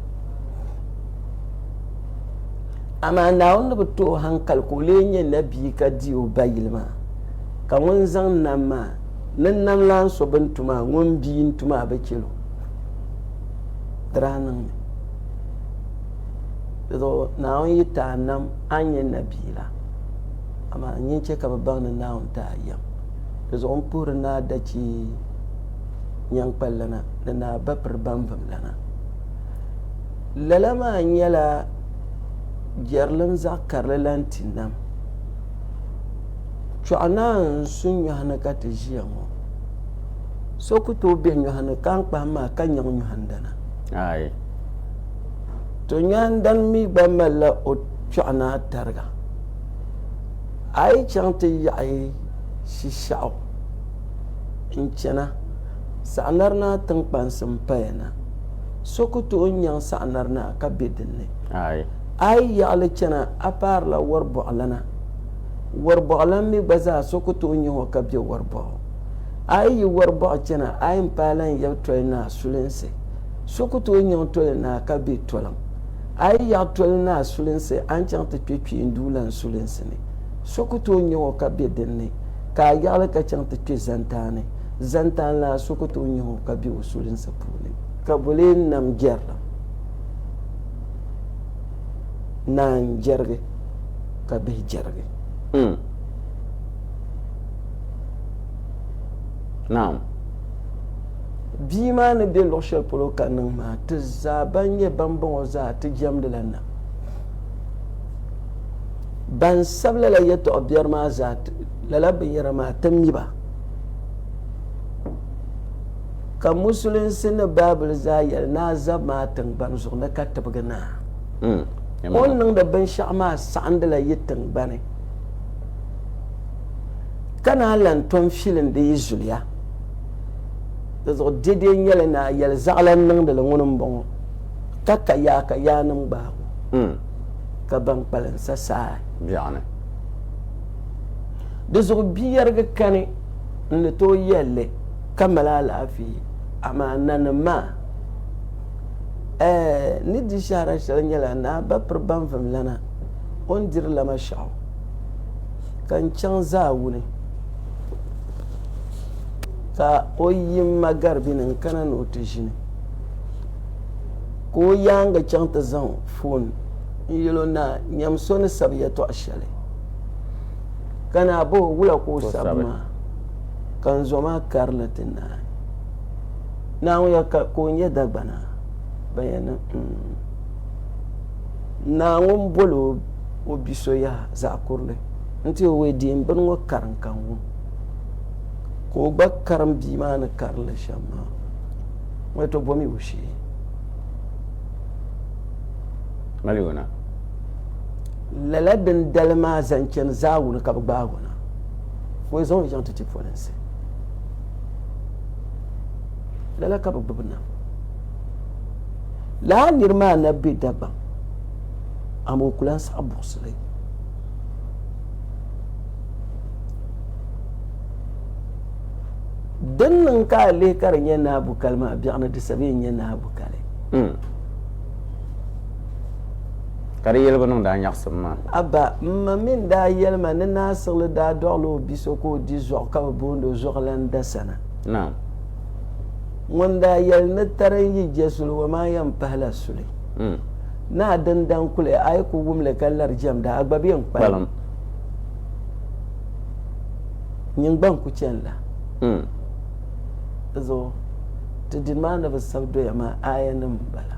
Amaa Naawuni ni bi ti o haŋkali ka o lee nyɛ nabia ka di o ba yili maa. Ka ŋun zaŋ nam maa, ni nam lan so bɛ ni tu maa, ŋun bia n-tu maa bi chɛl o. Di daa niŋ mi. Dizuɣu Naawuni yi ti a nam, a ni nyɛ nabia la. Amaa nyin chɛ ka bɛ baŋ ni Naawuni ti a yɛm. Dizuɣu n puhiri ni a da chɛ nyaŋkpalilana ni ni a ba piri bambimlana. Lala maa nyɛla jɛrilim zaɣ karili lan ti nam. Chɔɣu naan n su nyɔhi ni ka ti ʒiya ŋɔ. So ku tooi be nyɔhi ni ka n kpahim maa ka nyaŋ nyɔhindana. Aai. To nyɔhindani mi gba malila o chɔɣu ni a tariga. A yi chaŋ ti yaɣi Shishɛɣu n-chana, Saɣinari Naa tiŋkpansi m-paya na. so ku tooi nyaŋ saɣinari na ka be din ni. A yi yaɣili chana, a paarila wɔribɔɣilana. Wɔribɔɣilan mi gba zaa so ku tooi nyah o ka be wɔribɔɣu. A yi yi wɔribɔɣu chana, a yɛn paai lan yab toli naa sulinsi. So ku tooi nyaŋ toli naa ka be toliŋ. A yi yaɣi toli naa sulinsi, a ni chaŋ ti kpe kpeenduulan sulinsi ni. So ku tooi nyah o ka be din ni, ka a yaɣili ka chaŋ ti kpe zantaani. Zantaanlana so ku tooi nyɛh o ka be o sulinsi puuni. Ka bɛ lee nam jɛrilim, naa n-jɛrigi ka bihi jɛrigi. Umm. Naam. Bia maa ni be luɣ shɛli polo ka niŋ maa, ti zaa ban nyɛ bambɔŋɔ zaa ti jɛmdila nam. Ban sabi lala yɛtɔɣ biɛri maa zaa, lala binyɛra maa, ti mi ba. Ka musulinsi ni Baabuli zaa yɛli ni a zab maa tiŋgbani zuɣu ni ka tibigi naa. Mm. O ni niŋdi binshɛɣu maa saɣindila yi tiŋgbani ka naan lan tom filindi yi zuliya. Di zuɣu dɛdɛ nyɛli ni a yɛli zaɣilan niŋdili ŋuni m-bɔŋɔ, Ka ka yaa ka yaanim gbaag o, mm. ka ban kpalim sa saai. Biɛɣuni. Di zuɣu bia yɛrigi kani n ni tooi yɛli li ka mali alaafee, amaa nanim maa, ɛɛh, n ni di shɛhira shɛli nyɛla ni a ba piri baŋvim lana o ni diri la ma shɛhu ka n chaŋ zaawuni ka o yi ma garibi ni n kana ni o ti ʒini ka o yaaŋa chaŋ ti zaŋ foon n yɛl o ni a nyam so ni sabi yɛtɔɣ shɛli. ka naa ba o wula ka o sabi maa ka n zɔ maa karili ti naai naa ŋɔ ya ka o nyɛ dagbana ban yɛn niŋ mm. naa ŋun boli o bi so yaha zaɣ kurili n ti o wee diin bini ŋɔ karim ka n wum ka o gba karim bia maa ni karili shɛm maa ŋɔ to bomi o shee maliona Lala dindali maa zaŋ chani zaagu ni ka bɛ gbaag o na, ka o zaŋ o chaŋ ti ti polinsi. Lala ka bɛ gbibi na. Lala nir maa na be Dagbaŋ, amaa o ku lan saɣi buɣisili. Din niŋ ka a lihi ka di nyɛ Naa Bukali maa biɛɣuni di sabi yi n-nyɛ Naa Bukali. ka di yɛligu niŋdi a nyaɣisim maa. Abba, m ma mi n-daa yɛli ma ni Naa Siɣili daa dɔɣila o bi so ka o di zuɣu ka bɛ boond o Zuɣulan Dasana. Naam. Ŋun daa yɛli ni tari n yi je suli wa maa yɛn pahila suli. Naa Dindaŋ kuli a yi ku wum li ka lari jɛmda, a gba be n kpalim. Nyin gba n-ku chani la. Di zuɣu, ti dini maa ni bi sabi doya maa aayanim m-bala.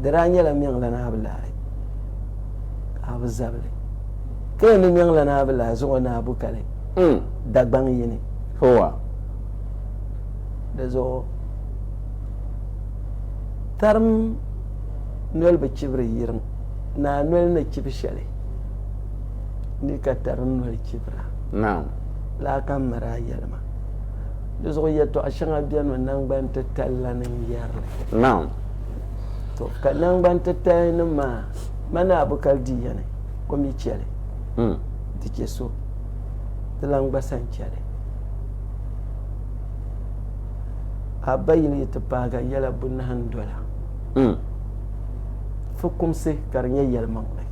di daa nyɛla Miɛŋlana Abilahi ka a bi zabili. Ka yɛn ni Miɛŋlana Abilahi zuŋɔ ni a bu kali hmm. Dagbaŋ yini. Howa. Di zuɣu tarim noli bi chibiri yirim ni a noli ni chibi shɛli ni ka tarim noli chibira. Naam. Laa ka m miri a yɛlima. Di zuɣu yɛtɔɣa shɛŋa beni mi naŋgban titali la ni n yɛrili. Naam. ka nangbani titali nim maa mani abukali di yani o mi chɛli hmm. di chɛ so ti lan gba san chɛli a ba yili yi ti paaga yɛla bunahi n dola hmm. fukumsi ka di nyɛ yɛlimaŋli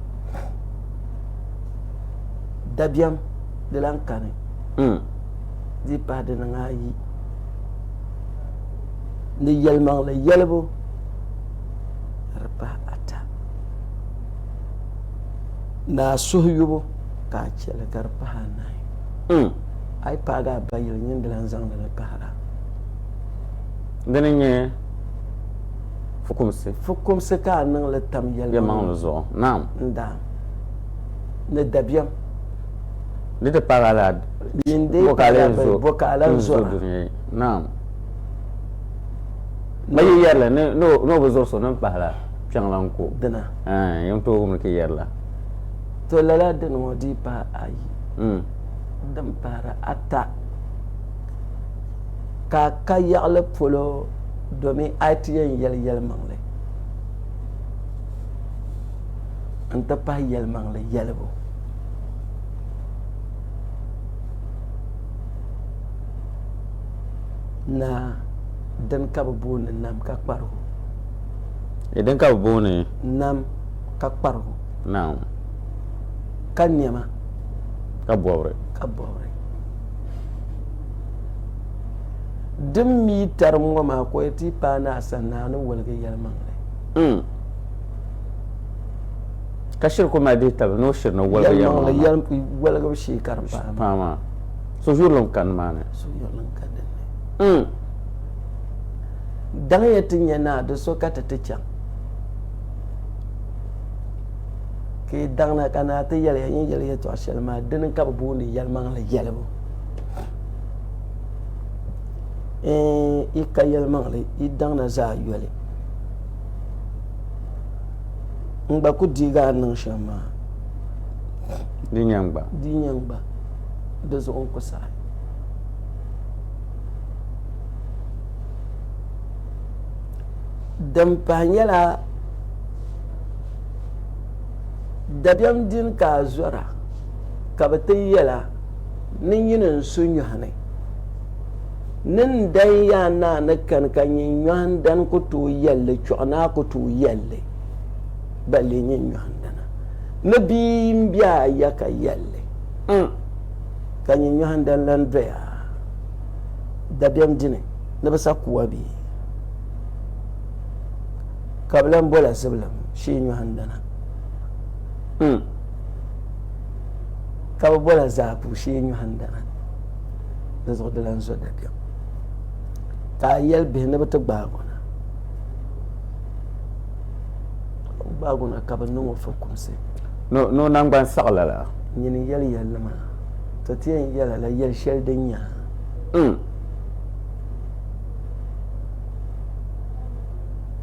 dabiɛm di lan kani hmm. di pahi di niŋ ayi ni yɛlimaŋli yɛlibu ni di pahi ata ni a suhu yubu ka a chɛ li ka di pahi anahi. Hmm. A yi paagi a ba yili nyin di lan zaŋdi li pahir a. Di ni nyɛ fukumsi. Fukumsi ka a niŋ li tam yɛlimaŋli zuɣu. Naam. N daa. Ni dabiɛm. Di ti paagi a la. Nyin di yi paagi a ba yi bo ka a lan zo a. Naam. N yi yɛrili ni o bi zuɣu so ni pahila kpiɛŋlaŋ ko. Dina. Yɛn tooi wumli ti yɛrila. To lala dini ŋɔ dii pahi ayi. Hmm. Din pahiri ata. Ka ka yaɣili polo domin a ti yɛn yɛli yɛlimaŋli n ti pahi yɛlimaŋli yɛlibu. Naa, dini ka bɛ booni nam ka kparigu? Di dini ka bɛ booni. Nam ka kparigu? Naam. Ka nɛma. Ka bɔbiri. Ka bɔbiri. Din mi yi tarim ŋɔ maa ka o yɛti yi paai ni a sani ni a ni woligi yɛlimaŋli. Umm. Ka shiri kul mali dihi taba ni o shiri ni woligu yɛlimaŋli yɛli woligibu shee ka di paai paai maa. So yurili n-ka nimaani. So yurili n-ka dinni. N. Daŋya ti nya naa do so ka ti ti chaŋ. Ka yi daŋna ka naa ti yɛliya yin yɛli yɛtɔɣ shɛli maa, dini ka bɛ booni yɛlimaŋli yɛlibu. N. Yi ka yɛlimaŋli, yi daŋna zaa yoli. n gba ku deegi a ni niŋ shɛm maa. Di nya n-gba. Di nya n-gba. Di zuɣu n ku saɣi. Din pahi nyɛla dabiɛm din ka a zɔra ka bɛ ti yɛl a ni nyini n-su nyɔhi ni. Ni n dan ya a naa ni kani ka nyin nyɔhi n dan ku tooi yɛli li, chuɣu ni a ku tooi yɛli li, ba lee nyin nyɔhi n dana. Ni bia n be a ya ka yɛli li, N, ka nyin nyɔhi n dan lan doya a dabiɛm dini ni bi sa kuwa bɛ ka bi lan bol a zibilim shee nyɔhi n dana. N, ka bi bol a zaapuu shee nyɔhi n dana. di zuɣu di lan zo dabiɛm. Ka a yɛli bihi ni bɛ ti gbaag o na. O bi gbaag o na ka bɛ niŋ o fukumsi. Ni o naŋgban saɣi lala. Nyini yɛli yɛlli maa, ti ti yɛn yɛl a la yɛl shɛli din nya ha. N.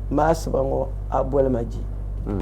Maasiba ŋɔ a boli ma ji. N.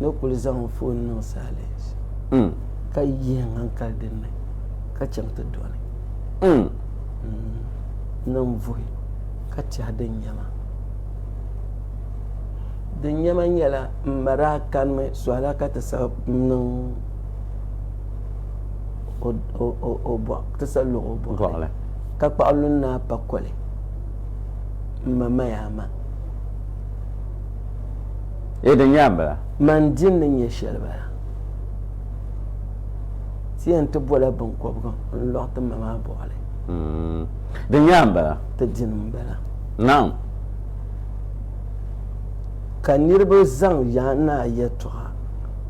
ni kuli zaŋ n foon niŋ silence mm. ka yihi n hankali dinni ka chaŋ ti dɔni mm. mm. niŋ vuhi ka tɛhi din nyɛma din nyɛma nyɛla m ma daa kanimi sɔhila ka ti sa niŋ ti sa lɔg o bɔɣili ka kpaɣi lunna pa koli m ma maya ma Ee, di nyɛla bala. Man din ni nyɛ shɛli bala. Ti yɛn ti bɔla biŋkɔbigu n-lɔɣ ti ma maa bɔɣili. Di nyɛla bala. Ti dini m-bala. Naam. Ka niriba zaŋ ya naa yɛtɔɣa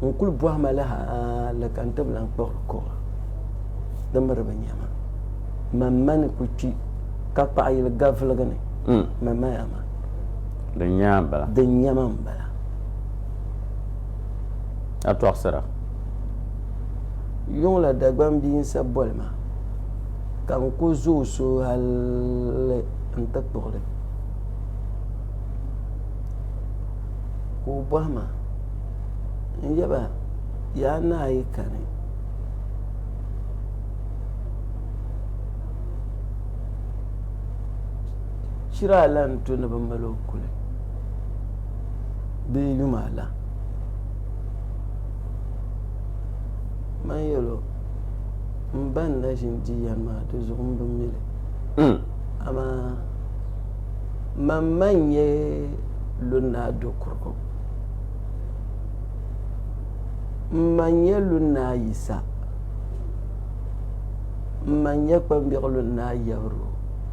n-kul bɔhi ma li hali ka n ti bi lan kpuɣiri kɔba di miri bɛ nya ma. Man ma ni ku kpi ka kpaɣ yili gaviligi ni, ma maya ma. Din nya ma m-bala. Din nya ma m-bala. A tɔɣisira. Yuŋ la Dagbaŋ bia n-sa boli ma, ka n ku zo o so hali n-ti kpuɣi li, ka o bɔhi ma, N yaba, yaa naa yi kani, shiri a lan tu ni bɛ mal o kuli bee yuma la. Man yɛl o, M ba ni na ʒin di yɛn maa di zuɣu m bi mi li, hmm. amaa man ma n-nyɛ Lunnaa Dokurigu. M ma n-nyɛ Lunnaa Yisa. M ma n-nyɛ Kpambiɣi Lunnaa Yɛbirigu.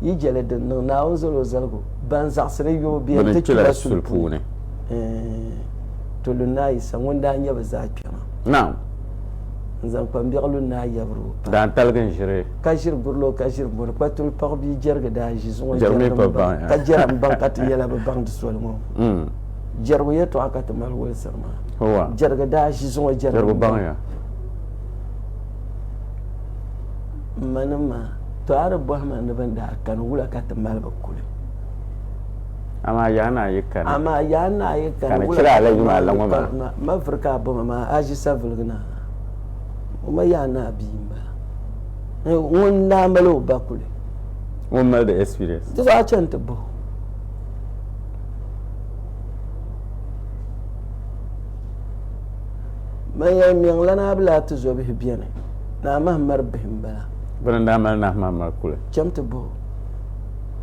Yi je li din niŋ Naawuni zal o zaligu, ban zaɣisiri yubu bee nti kpi ba suli puuni. Eeh! To lu Naa Yisa ŋun daa nya bɛ zaa kpɛma. Naam! N zaŋ kpambiɛɣu lu Naa Yabiro pam. Daa taligi n ʒiri. Ka ʒiri buri la o ka ʒiri mɔri. Kpatuli paɣ bia Jɛrigi daa ʒi zuŋɔ Jɛrigi mi baŋ ya. Ka Jɛrim baŋ ka ti yɛla bi baŋ di soli ŋɔ. Jɛrigu yɛtɔɣa ka ti mali wulisiri maa. Huwa! Jɛrigi daa ʒi zuŋɔ Jɛrigu baŋ ya. M manim maa, tɔ a di bɔhi ma ni bɛ ni daa kani wula ka ti mali bɛ kuli? Amaa yaa naa yi kani. Amaa yaa naa yi kani wula ka ti mali bɛ kuli? Ma ma vuri ka a bɔma maa, a ʒi saviligi na ha. O ma yaa naa bia m-bala. Ŋun n daa mali o ba kuli. Ŋun mali di experience. Di zuɣu a chani ti bahi o. Manya n-niŋ la ni a bi lahi ti zo bihi beni. Naa Mahamar bihi m-bala. Bɛ ni daa mali Naa Mahamar kuli. Cham ti bahi o.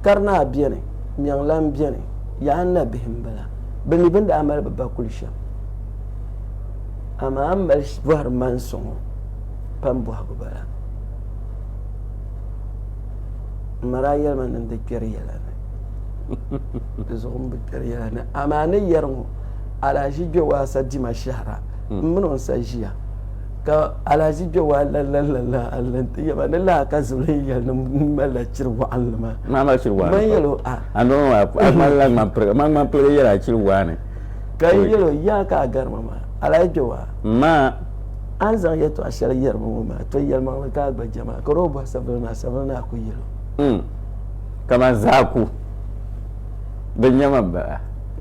Karinaa beni, Mɛŋlan beni, Yaanna bihi m-bala. Bɛ mi bɛ daa mali bɛ ba kuli shɛm. Amaa m mali bɔhiri ma n sɔŋ o pam bɔhigu bala. M ma daa yɛli ma ni n di kpɛri yɛla ni. Di zuɣu m bi kpɛri yɛla ni. Amaa ni yɛri ŋɔ, alahiʒi Gbewaasa dima shɛhira m mini o n-sa ʒiya. Ka alahaji kpe waa la la la la alli n ti yaba ni laa ka zulihi yɛli ni m malila chiri waɣinli maa. Maa mali chiri waɣinli pam. N yɛl o a. A noo maa a ŋmanila ŋman piliga maa ŋman piliga yɛla chiri waa ni. Ka n yɛl o yaa ka a gari ma maa alahaji kpe waa. M ma. A ni zaŋ yɛtɔɣa shɛli yɛri ma ŋɔ maa to yɛlimaŋli ka a gba jɛm a kari o bɔhi Sabili maa Sabili ni a ku yɛl o. N. Kaman zaa ku bi nya ma m ba a.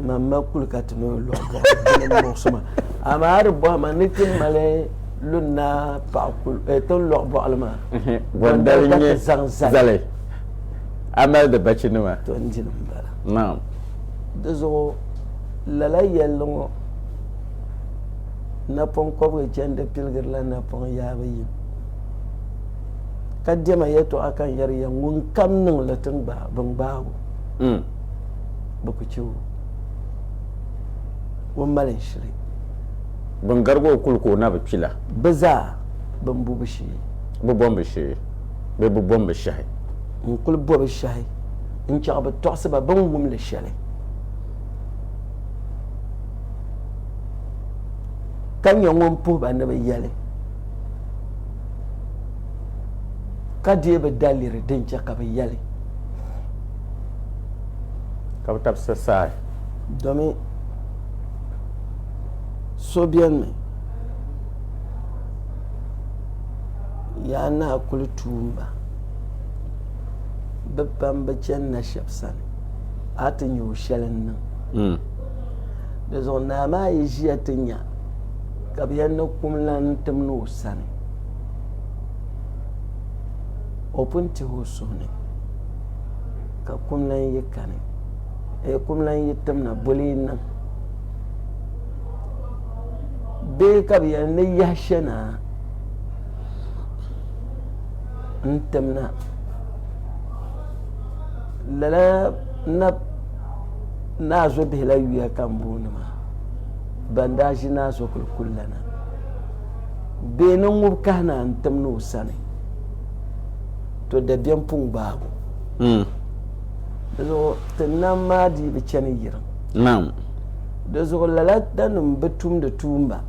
Ŋan ma kuli ka ti ni o lɔɣu bɔhim ni muɣisima amaa a di bɔhim a ni ti mali lunna paɣa kuli eh, ti ni lɔɣu bɔɣili maa Gɔndali ka ti zaŋ zali a mali di bachinima to n-di li m-bala naam di zuɣu lala yɛlli ŋɔ napɔŋ kɔbiga chandi piligirila napɔŋ yaabu yim ka dɛma yɛtɔɣa ka n yɛri ya ŋunkam niŋ li ti gbaai bin gbaai o. bɛ ku chɛ o o ni mali n shiri. Bɛ ni garigi o kuli ka o na bi kpi la. Bɛ zaa bɛ ni bo bɛ shee. Bɛ bombu shee bee bɛ bombu shɛhi. N kuli bo bɛ shɛhi n chaɣ bɛ tɔɣisiba bɛ ni wum li shɛli, ka nyɛ ŋun puhi ba ni bɛ yɛli, ka deei bɛ daliri din chɛ ka bɛ yɛli. ka bi tab sasaai. Domin so bɛn mi yaa naa kuli tuum ba, bɛ pam bi chani na shɛb sani, a ti nya o shɛli n-niŋ. Di zuɣu naa maa yi ʒiya ti nya ka bɛ yɛn ni kum lan n-tim ni o sani, o pun tihi o suhu ni. ka kum lan yi kani ee kum lan yi timna boli yi niŋ bee ka bi yɛli ni yahi shɛna n timna lala na naa zo bihila yuya ka n booni maa ban daa ʒi naa zo kuli kuli lana bee ni ŋub kahi naa n timni o sani To dabiɛm puŋ gbaabu. Di zuɣu ti nam maa dii bi chani yirim. Naam. Di zuɣu lala danim bi tumdi tuumba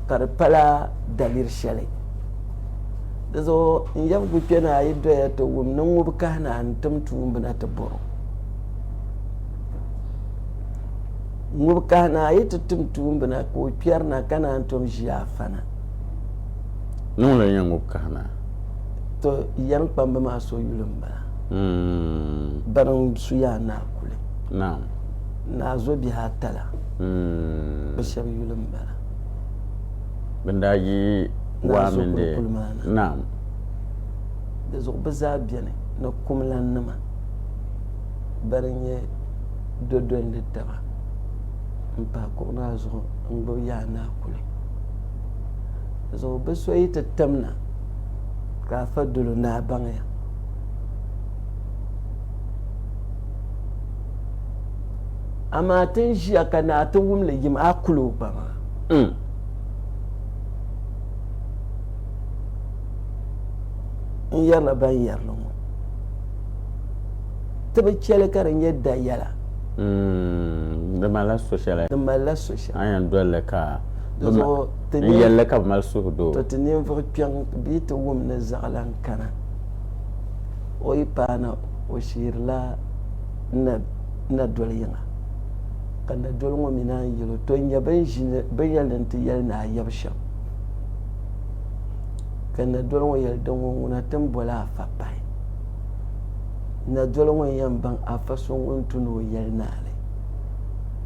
ka di pala daliri shɛli. Di zuɣu n yabgu kpe ni a yi doya ti wum ni ŋub kahi ni a ni tim tuumbi na ti bɔr o. Ŋub kahi ni a yi ti tim tuumbi na ka o kpɛri na ka naan tom ʒi a fana. Niŋla ya ŋub kahina. To yɛm kpamba maa so yuli m-bala. Mm. Bana n-su ya Naa Kuli. Naam. Naa zo bihi ata la. Mm. Bɛ shɛba yuli m-bala. Bɛ ni daa yi waa mini di. Naa zo Kuli maa na. Naam. Di zuɣu bɛ zaa beni ni kumlannima bani n-nyɛ dodolindi taba m-pahi kuɣu maa zuɣu n-gbib ya Naa Kuli. zuɣu bi so yi ti tim na ka a fa dolo ni a baŋya amaa ti ni ʒiya ka naa ti wum li yim a kul o ba maa mm. n yɛrila ban yɛrili ŋɔ ti bi chɛli ka di nyɛ da yɛla mm, di malila so shɛli Ka a yɛn doli li ka n yɛli li ka bɛ mali suhudoo. To ti ninvuɣ kpiɔŋ bee ti wum ni zaɣilan kana. O yi paana o shihirila n na doli yiŋa, ka n na doli ŋɔ mi naan yɛl o, To n-nyɛ bɛn ʒi ni bɛ yɛli ni nti yɛli ni a yab shɛm, ka n na doli ŋɔ yɛli, Din ŋɔ ŋuna ti ni boli afa pahi. N na doli ŋɔ n-yɛn baŋ afa so ŋun tu ni o yɛli naali.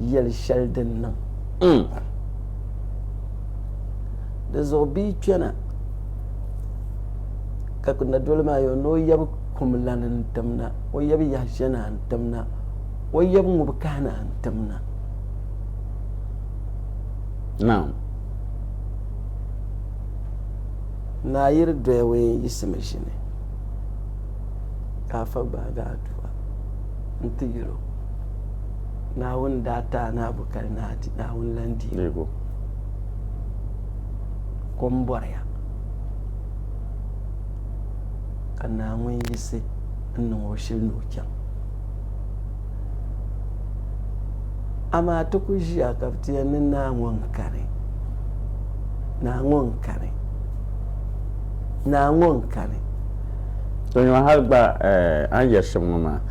yɛli shɛli din niŋ. Di zuɣu bɛ yi kpɛna ka na doli maa yo ni o yɛbi kum lani n-tim na, o yɛbi yahi shɛna n-tim na, o yɛbi ŋub kahina n-tim na. Naam. Naa yiri doya ween yiɣisimi ʒini ka afa gbaagi aduwa nti yɛl o. Naawuni daa ti Anaabu ka di naa di Naawuni lan deebu kom bɔriya, ka naa ŋun yiɣisi n-niŋ o shili ni o chaŋ. Amaa ti ku ʒiya ka bɛ ti yɛli ni naa ŋɔ n-kani, naa ŋɔ n-kani, naa ŋɔ n-kani. Tɔ nyɔŋ hal gba a ni yɛri shɛm ŋɔ maa.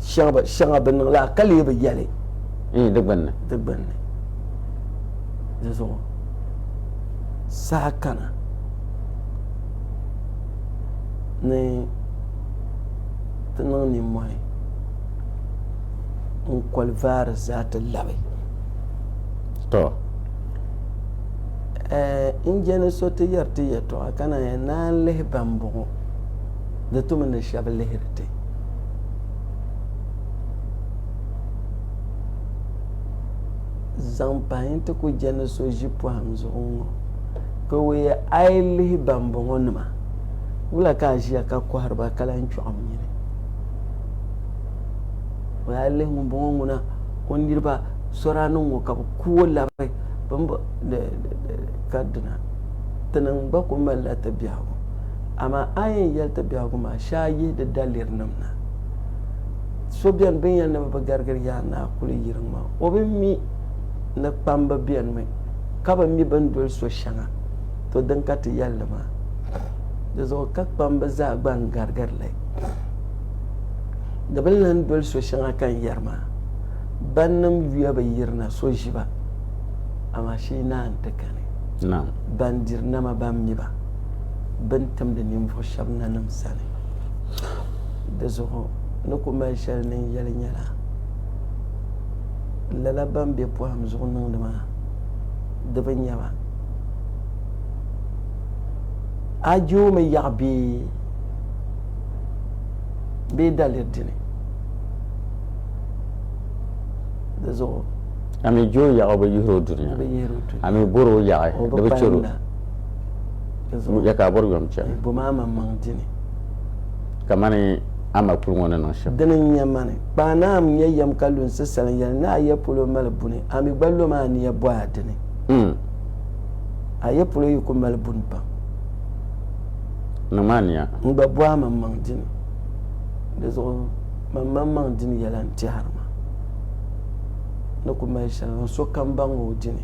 shɛŋa bɛ niŋ la ka lee bi yɛli di gbinni. Di zuɣu saha kana ni ti niŋ nimmɔhi n-koli vaari zaa ti labi. N jɛni so ti yɛri ti yɛtɔɣa ka naan yɛn naan lihi ba m-bɔŋɔ di tumi ni shɛba lihiri ti. zaŋ pahi n ti ku jɛ ni so ʒi pɔhim zuɣu ŋɔ ka o yɛ a yi lihi bambɔŋɔ nima wula ka a ʒiya ka kɔhiri ba ka lan chɔɣim nyini o yaa lihi ŋumbɔŋɔ ŋuna o niriba sɔraaniŋ ŋɔ ka bi ku o labi ka dina ti niŋ gba ku malila ti biɛhigu Amaa a yi yɛn yɛli ti biɛhigu maa, shee a yihi di dalirinim na. So beni bɛ ni yɛli ni bɛ bi garigiri Yaa Naa kuli yiriŋ maa, o bi mi ni kpamba benimi ka bi mi bɛn doli so shɛŋa, to din ka ti yɛli li maa. Di zuɣu ka kpamba zaa gba n garigiri li. Di bi lan doli so shɛŋa ka n yɛri maa, Bannim yuya bi yiri na so ʒi ba, amaa shee naa nti kani, bandirinama ban mi ba. bɛ ni timdi ninvuɣ shɛb nanim sani. Dizuɣu ni ku mali shɛli ni n yɛli nyɛla, Lala bɛn be pɔhim zuɣu niŋdi maa, di bi nya ba. A joomi yaɣi bee bee daliri dini? Dizuɣu. A mi joo yaɣi o bi yihir o duniya, a mi bɔr o yaɣi di bi chɛr o. Ya ka a bɔri yom chani. Bom a man maŋ di ni. Kamani a ma kuli ŋɔ ni niŋ shɛm. Dini n-nya mani. Kpaŋ ni a nya yɛm ka lunsi salim yɛli ni a ya polo mali buni, a mi gba lom a ni ya bɔhi a dini. A ya polo yi ku mali buni pam. Niŋ ma a ni ya. N gba bɔhi a man maŋ di ni. Di zuɣu man maŋ maŋ di ni yɛla n-tɛhiri ma ni ku mali shɛli niŋ sokam baŋ o di ni.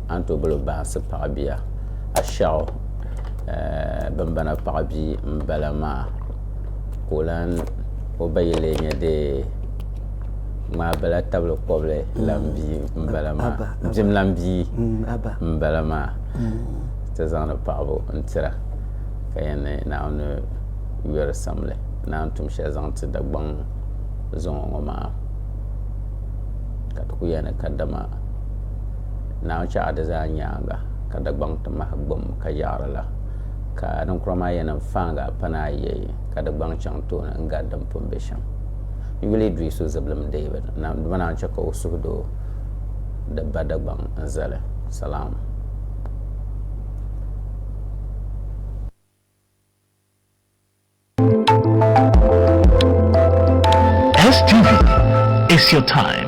a ni tooi boli baŋsi paɣa bia ashaɣu bimbana paɣa bia n bala maa ka o lan o ba yi lee nyɛ dee ŋmaa bala tabili kɔbili lan bia n bala maa bim lan bia n bala maa ti zaŋdi paɣabu n tira ka yɛn ni naawuni yɔri samli ni a ni tum shɛli zaŋ ti dagbaŋ zuŋɔ ŋɔ maa ka ti ku yɛli ni kadama Naawuni chɛɣu di zaa nyaaŋa ka Dagbaŋ ti mahi gbum ka yaɣiri la, ka niŋkura maa yɛnim faaŋa pa ni a yɛi, ka di gbaŋ chaŋ tooni n-gari din pun be shɛm. N yuli dui so zibilim David, dama naan chɛ ka o suhu do di ba Dagbaŋ n-zali. Salaam. STV, it's your time.